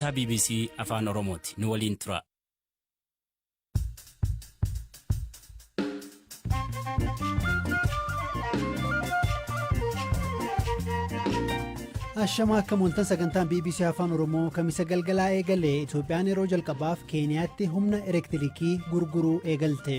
Sagantaa bbc Afaan Oromooti. Nu waliin turaa. Ashama akka mooltan sagantaan BBC Afaan Oromoo kamisa galgalaa eegalee Itoophiyaan yeroo jalqabaaf Keeniyaatti humna elektirikii gurguruu eegalte.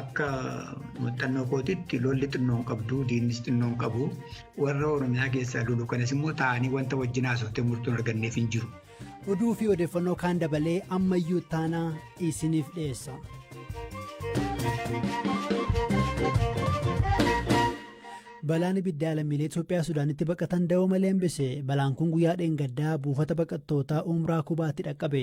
Akka muuxannoo kootiitti lolli xinnoo hin qabdu, diinnis xinnoo hin qabu. Warra Oromiyaa keessaa lolu kanas immoo taa'anii wanta wajjin haasoftee murtoon arganneef hin jiru. Oduu fi odeeffannoo kaan dabalee ammayyuu taanaa isiniif dhiyeessa. Balaan ibiddaa lammiilee Itoophiyaa Sudaanitti baqatan da'oo malee hambise. Balaan kun guyyaa dheengaddaa buufata baqattootaa Umraa Kubaatti dhaqqabe.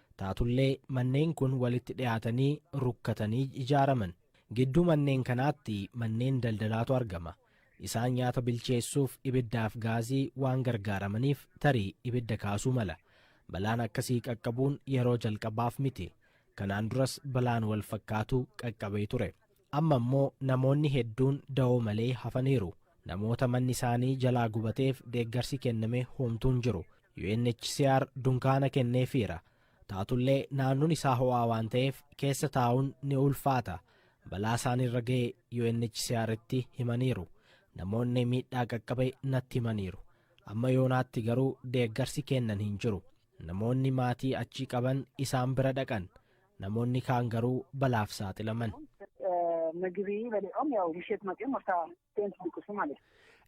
Taatullee manneen kun walitti dhiyaatanii rukkatanii ijaaraman. Gidduu manneen kanaatti manneen daldalaatu argama. Isaan nyaata bilcheessuuf ibiddaaf gaazii waan gargaaramaniif tarii ibidda kaasuu mala. Balaan akkasii qaqqabuun yeroo jalqabaaf miti. Kanaan duras balaan walfakkaatu qaqqabee ture. Amma immoo namoonni hedduun dawoo malee hafaniiru. Namoota manni isaanii jalaa gubateef deeggarsi kenname homtuu hin jiru. UNHCR dunkaana kenneefiira. Taatullee naannoon isaa ho'aa waan ta'eef keessa taa'uun ni ulfaata. Balaa isaanirra ga'e UNHCRtti himaniiru. Namoonni miidhaa qaqqabe natti himaniiru. Amma yoonaatti garuu deeggarsi kennan hin jiru. Namoonni maatii achii qaban isaan bira dhaqan. Namoonni kaan garuu balaaf saaxilaman.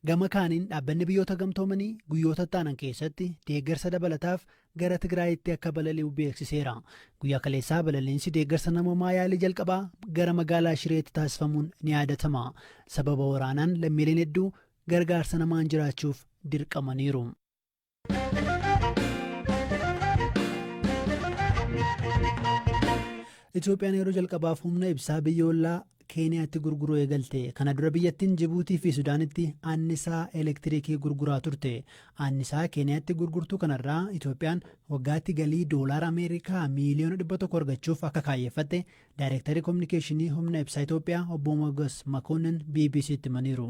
Gama kaaniin dhaabbanni biyyoota gamtoomanii guyyoota itti aanan keessatti deeggarsa dabalataaf gara Tigraayitti akka balali'u beeksiseera. Guyyaa kaleessaa balaliinsi deeggarsa namoomaa yaalii jalqabaa gara magaalaa Shireetti taasifamuun ni yaadatama. Sababa waraanaan lammiileen hedduu gargaarsa namaan jiraachuuf dirqamaniiru. Itoophiyaan yeroo jalqabaaf humna ibsaa biyya ollaa Keeniyaatti gurguruu eegalte. Kana dura biyyattiin Jibuutii fi Sudaanitti annisaa elektiriikii gurguraa turte. Annisaa Keeniyaatti gurgurtuu kanarraa Itoophiyaan waggaatti galii doolaara Ameerikaa miiliyoona dhibba tokko argachuuf akka kaayyeffatte Daayirektarri Kominikeeshinii Humna Ibsaa Itoophiyaa obbo Mogas Makoonnin BBC'tti himaniiru.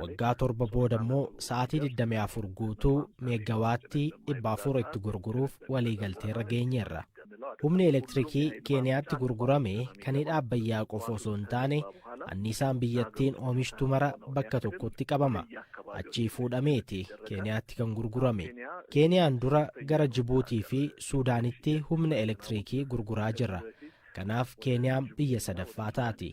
Waggaa torba booda immoo sa'aatii 24 guutuu meeggawaattii 400 itti gurguruuf waliigalteerra geenyeerra. Humni elektirikii Keeniyaatti gurgurame kan hidha Abbayyaa qofa osoo hin taane anniisaan biyyattiin oomishtu mara bakka tokkotti qabama. Achii fuudhameeti Keeniyaatti kan gurgurame. Keeniyaan dura gara Jibuutii fi Suudaanitti humna elektirikii gurguraa jirra. Kanaaf Keeniyaan biyya sadaffaa taati.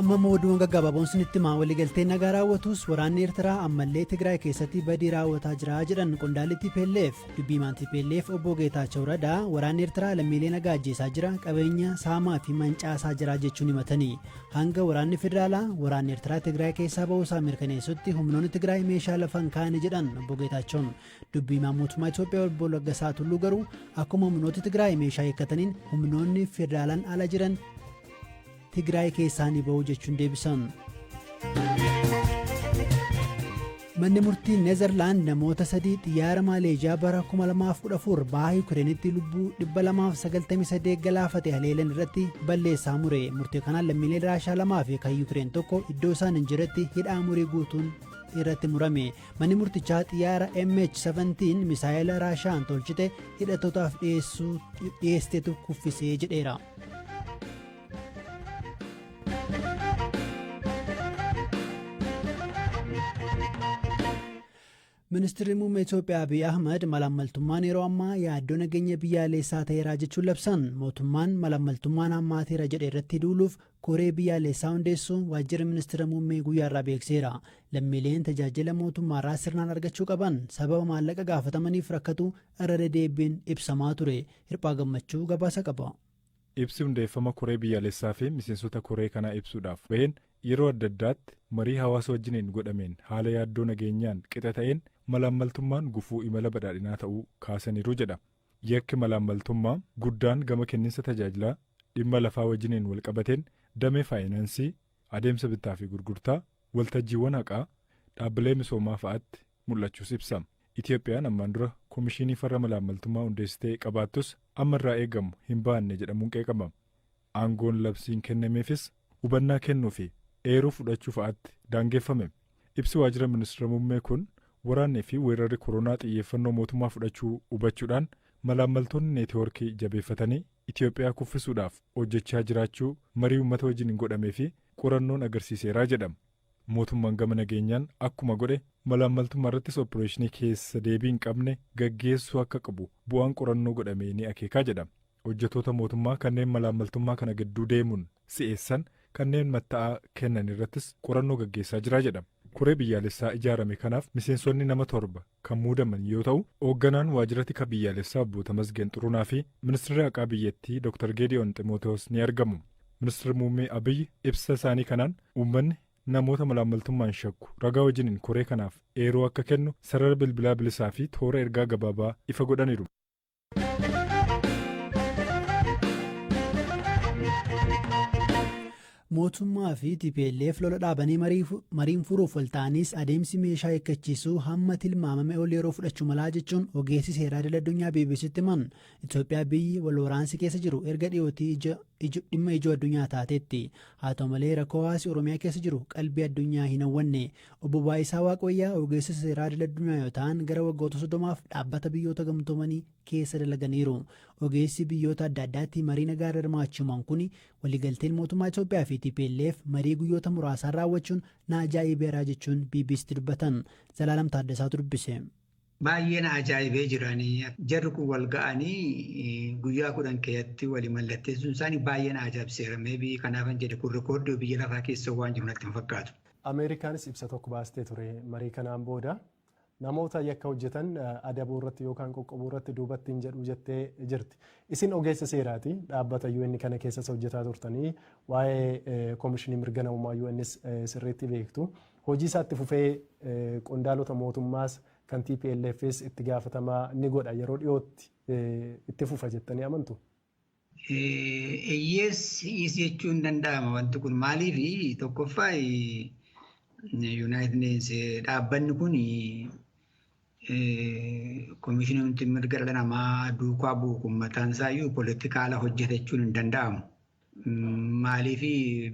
amma immoo oduuwwan gaggabaaboon sinitti himaa waliigaltee nagaa raawwatus waraanni eertiraa ammallee tigraay keessatti badii raawwataa jira jedhan qondaalli tplf dubbiimaan tplf obbo geetaachoo radaa waraanni eertiraa lammiilee nagaa ajjeesaa jira qabeenya saamaa fi mancaasaa jira jechuun himatanii hanga waraanni federaalaa waraanni eertiraa tigraay keessaa ba'uusaa mirkaneessutti humnoonni tigraay meeshaa lafan kaa'anii jedhan obbo geetaachoon Dubbi himaan mootummaa Itoophiyaa obbo Laggasaa Tulluu garuu akkuma humnooti Tigraay meeshaa hiikkataniin humnoonni federaalaan ala jiran Tigraay keessaa ni ba'u jechuun deebisan. Manni murtii Neezerlaand namoota sadii xiyyaara Maaleezhiyaa bara 2014 baha Yukireenitti lubbuu 298 galaafate haleelan irratti balleessaa mure. Murtii kanaan lammiilee Raashaa lamaa fi kan Yukireen tokko iddoo isaan hin jirretti hidhaa umurii guutuun irratti murame. Manni murtichaa xiyyaara MH17 misaa'ela Raashaan tolchite hidhattootaaf dhiyeessetu kuffisee jedheera. Ministeerri muummee Itoophiyaa Abiy Ahmad malaammaltummaan yeroo ammaa yaaddoo nageenya biyyaalessaa ta'eeraa jechuun labsan mootummaan malaammaltummaan hammaateera jedhe irratti duuluuf Koree Biyyaalessaa hundeessuu Waajjirri Ministira Muummee guyyaa irraa beekseera. Lammiileen tajaajila mootummaarraa sirnaan argachuu qaban sababa maallaqa gaafatamaniif rakkatu irra dedeebiin ibsamaa ture. Hirphaa Gammachuu gabaasa qaba. Ibsi hundeeffama koree biyyaalessaa fi miseensota koree kanaa ibsuudhaaf baheen yeroo adda addaatti marii hawaasa wajjiniin godhameen haala yaaddoo nageenyaan qixa ta'een malaammaltummaan gufuu imala badhaadhinaa ta'uu kaasaniiru jedha Yakki malaammaltummaa guddaan gama kenninsa tajaajilaa dhimma lafaa wajjiniin walqabateen damee faayinaansii, adeemsa bittaa fi gurgurtaa, waltajjiiwwan haqaa, dhaabbilee misoomaa fa'atti mul'achuus ibsa. Itiyoophiyaan ammaan dura komishiinii farra malaammaltummaa hundeessitee qabaattus amma irraa eegamu hin baanne jedhamuun qeeqama. Aangoon labsiin kennameefis hubannaa kennuu fi eeruu fudhachuu fa'aatti daangeffame. Ibsi Waajjira Ministira Muummee kun waraannii fi weerarri koronaa xiyyeeffannoo mootummaa fudhachuu hubachuudhaan malaammaltoonni neetiwoorkii jabeeffatanii Itiyoophiyaa kuffisuudhaaf hojjechaa jiraachuu marii uummata wajjin godhamee fi qorannoon agarsiiseera jedha. Mootummaan gama nageenyaan akkuma godhe malaammaltummaarrattis oppireeshinii keessa deebii hin qabne gaggeessuu akka qabu bu'aan qorannoo godhamee ni akeeka jedha. Hojjetoota mootummaa kanneen malaammaltummaa kana gidduu deemuun si'eessan kanneen matta'aa kennan irrattis qorannoo gaggeessaa jira jedha. Koree biyyaalessaa ijaarame kanaaf miseensonni nama torba kan muudaman yoo ta'u, oogganaan waajjira tika biyyaalessaa obbo Tamasgeen Xurunaa fi ministirri haqaa biyyattii Dr. Geedi'oon Ximootiwoos ni argamu. Ministirri Muummee Abiy ibsa isaanii kanaan uummanni namoota malaammaltummaan shakku ragaa wajiniin koree kanaaf eeruu akka kennu sarara bilbilaa bilisaa fi toora ergaa gabaabaa ifa godhaniiru. mootummaa fi tplf lola dhaabanii mariin furuuf walta'anis adeemsi meeshaa eeggachiisuu hamma tilmaamame ol yeroo fudhachuu malaa jechuun ogeessi seeraa idil addunyaa bbctti himan itoophiyaa biyyi wal waraansi keessa jiru erga dhiyootii dhimma ijoo addunyaa taateetti haa ta'u malee rakkoo hawaasi oromiyaa keessa jiru qalbii addunyaa hin hawwanne Obbo Baayisaa Waaqwayyaa ogeessa seeraa idil addunyaa yoo ta'an gara waggoota soddomaaf dhaabbata biyyoota gamtoomanii keessa dalaganiiru. Ogeessi biyyoota adda addaatti marii nagaa irra hirmaachuu himan kun waliigalteen mootummaa Itoophiyaa fi TPLF marii guyyoota muraasaan raawwachuun na ajaa'ibeera jechuun BBCtti dubbatan. Zalaalam Taaddasaatu dubbise. Baay'ee na ajaa'ibee jira ani jarri kun wal ga'anii guyyaa kudhan keessatti wali mallatteessuun isaanii baay'ee na ajaa'ibseera maybe kanaafan jedhe kun rikoordii biyya lafaa keessa waan jiru natti hin fakkaatu. Ameerikaanis ibsa tokko baastee ture marii kanaan booda namoota yakka hojjetan adabuu irratti yookaan qoqqobuu irratti duubatti hin jedhu jettee jirti. Isin ogeessa seeraati dhaabbata UN kana keessas hojjetaa turtanii waa'ee koomishinii mirga namummaa UNs sirriitti beektu. Hojii isaa itti fufee qondaalota mootummaas kan TPLFs itti gaafatamaa ni godha yeroo dhiyootti itti fufa jettanii amantu? Eyyees hi'is jechuu hin danda'ama wanti kun maaliif tokkoffaa Yuunaayitid Neeshinsi dhaabbanni kun komishinii mirga dhala namaa duukaa bu'u kun mataan isaayyuu poolitikaala hojjeta jechuun hin danda'amu. Maaliif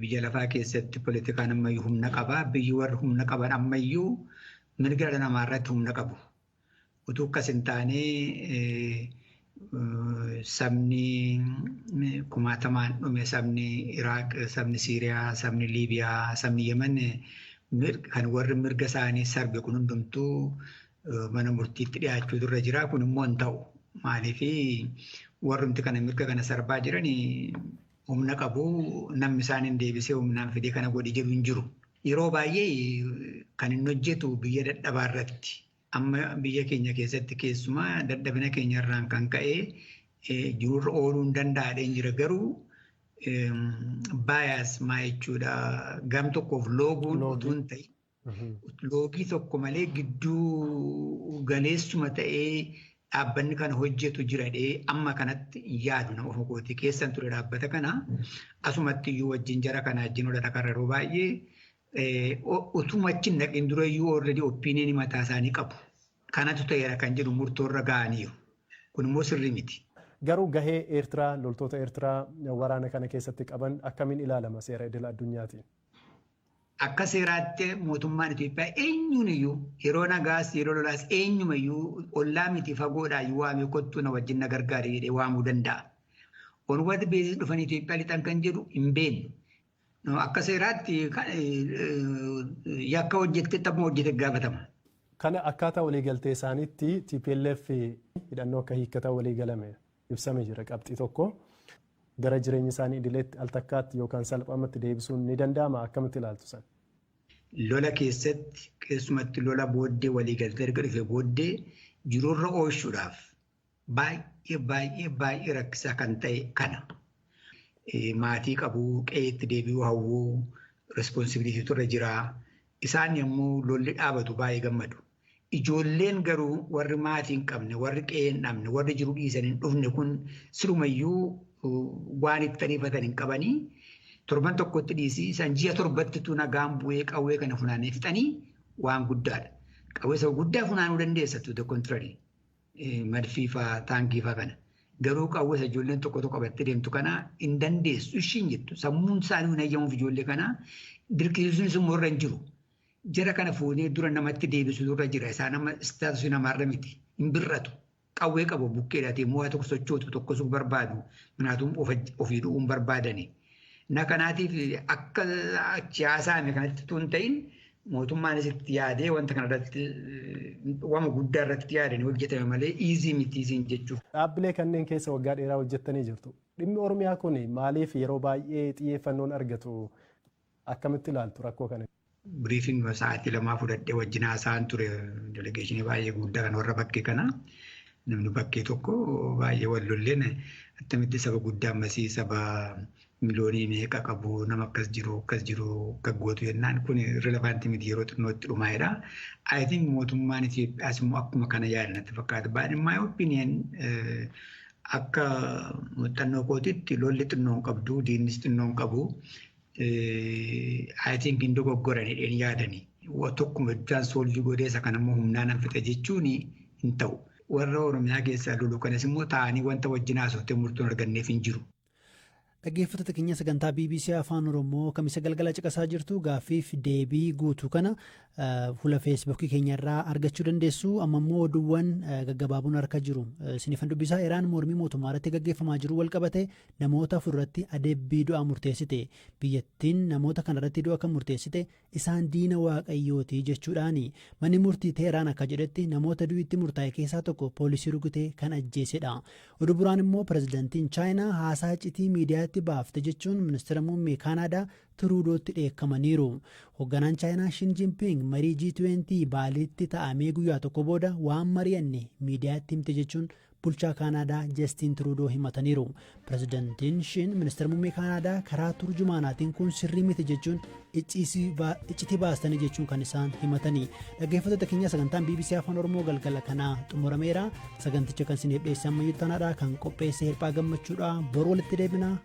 biyya lafaa keessatti politikaan ammayyuu humna qaba. Biyyi warri humna qaban ammayyuu mirga dhala namaa irratti humna qabu. Utuu akkas hin taane sabni kumaatamaan dhume sabni Iraaq, sabni Siiriyaa, sabni Liibiyaa, sabni Yemen kan warri mirga isaanii sarbe kun hundumtuu mana murtiitti dhiyaachuutu irra jira. Kun immoo hin ta'u. Maaliif warrumti kana mirga kana sarbaa jiran humna qabu namni isaan hin deebisee humnaan fidee kana godhi jedhu hin jiru. Yeroo baay'ee kan inni hojjetu biyya dadhabaa irratti. Amma biyya keenya keessatti keessumaa dadhabina keenya irraan kan ka'e jiruurra ooluu hin danda'adheen jira garuu baayaas maa jechuudha gam tokkoof looguun utuu hin ta'in loogii tokko malee gidduu galeessuma ta'ee dhaabbanni kana hojjetu jiradhee amma kanatti hin yaadu nama ofuma kootii keessan ture dhaabbata kana asumatti iyyuu wajjin jara kana wajjin ola dhaqarra yeroo baay'ee utuma achi hin dhaqin dura iyyuu already opinion mataa isaanii qabu. Kanatu ta'eera kan jedhu murtoorra ga'aniiru. Kun immoo sirrii miti. Garuu gahee Eertiraa loltoota Eertiraa waraana kana keessatti qaban akkamiin ilaalama seera idil addunyaatiin? Akka seeraatti mootummaan Itoophiyaa eenyuun iyyuu yeroo nagaas yeroo lolaas eenyuma iyyuu ollaa miti fagoodhaa iyyuu waamee kottuu na wajjin na gargaari jedhee waamuu danda'a. Onward beezis dhufanii Itoophiyaa lixan kan jedhu hin beeknu. Akka seeraatti yakka hojjette taphuma hojjete gaafatama. Kana akkaataa waliigaltee isaaniitti TPLF hidhannoo akka hiikkatan waliigalame. ibsame jira qabxii tokko. Gara jireenya isaanii idileetti al takkaatti yookaan salphamatti deebisuun ni danda'ama akkamitti ilaaltu san? Lola keessatti keessumatti lola booddee waliigaltee erga dhufe booddee jiruurra oolchuudhaaf baay'ee baay'ee baay'ee rakkisaa kan ta'e kana. Maatii qabu, qe'eetti deebi'uu hawwu, responsibilitii turre jira. Isaan yommuu lolli dhaabatu baay'ee gammadu. Ijoolleen garuu warri maatii hin qabne, warri qe'ee hin dhabne, warri jiru dhiisan hin dhufne kun sirumayyuu waan itti ariifatan hin qabanii torban tokkotti dhiisii isaan ji'a torbatti tu nagaan bu'ee qawwee kana funaanee fixanii waan guddaadha. Qawwee isa guddaa funaanuu dandeessa tu the contrary madfii faa taankii faa kana. Garuu qawwee isa ijoolleen tokko tokko qabattee deemtu kana hin dandeessu ishiin jettu sammuun isaanii hin hayyamuuf ijoollee kana dirqisiisuunis immoo irra hin jiru. Jara kana fuunee dura namatti deebisu dura jira. Isaan amma istaatusi namaarra miti. Hin bir'atu. Qawwee qabu bukkeedhaati immoo waa tokko sochootu tokkosuu barbaadu. Kanaatuun ofii du'uun barbaadani. Na kanaatiif akka achi haasaame kanatti tun ta'in mootummaanis itti yaadee wanta kanarratti wama guddaa irratti yaadanii hojjetame malee iizii miti iziin jechuuf. Dhaabbilee kanneen keessa waggaa dheeraa hojjettanii jirtu. Dhimmi Oromiyaa kun maaliif yeroo baay'ee xiyyeeffannoon argatu Akkamitti ilaaltu rakkoo kana? Briefing sa'aatii lamaa fudhadhee wajjin haasa'an ture delegeeshinii baay'ee guddaa kan warra bakkee kana. Namni bakkee tokko baay'ee wal lolleen attamitti saba guddaa ammasii saba miliyoonii meeqa qabu nama akkas jiru akkas jiru akka gootu jennaan kun rilevaanti miti yeroo xinnootti dhumaa'edha. I think mootummaan Itoophiyaas immoo akkuma kana yaada natti fakkaata. But in my opinion akka muuxannoo kootitti lolli xinnoo hin qabdu diinnis xinnoo hin qabu I think hin dogoggoran jedheen yaadani. Tokkuma jechaan soolvii godhee isa kana immoo humnaan an fixa jechuun hin ta'u. Warra Oromiyaa keessaa lolu kanas immoo taa'anii wanta wajjin haasofte murtoon arganneef hin jiru. Dhaggeeffattoota keenya sagantaa BBC Afaan Oromoo kamisa galgala caqasaa jirtu gaaffiif deebii guutuu kana Fuula feesbuukii keenya irraa argachuu dandeessu. Amma immoo oduuwwan gaggabaaboon harka jiru. Sinifan dubbisaa Iraan mormii mootummaa irratti gaggeeffamaa jiru wal qabate namoota afur irratti adabbii du'aa murteessite. Biyyattiin namoota kana irratti du'a kan murteessite isaan diina waaqayyooti jechuudhaani. Manni murtii Teeraan akka jedhetti namoota du'itti murtaa'e keessaa tokko poolisii rukutee kan ajjeesedha. Oduu biraan immoo pirezidantiin Chaayinaa haasaa iccitii miidiyaatti baafte jechuun ministeera muummee Kaanaadaa Tiruudootti dheekkamaniiru. Hogganaan Chaayinaa Shin Jinping marii G20 Baaliitti ta'amee guyyaa tokko booda waan mari'anne miidiyaatti himte jechuun bulchaa Kaanaadaa Jastiin Tiruudoo himataniiru. Pirezidantiin Shin ministeera muummee Kaanaadaa karaa turjumaanaatiin kun sirrii miti jechuun iccitii baastanii jechuun kan isaan himatanii. Dhaggeeffattoota keenya sagantaan BBC Afaan Oromoo galgala kanaa xumurameera. Saganticha kan isiniif dhiyeessan Mayyuu Tanaadhaa kan qopheesse Hirphaa Gammachuudhaa. Bor walitti deebinaa.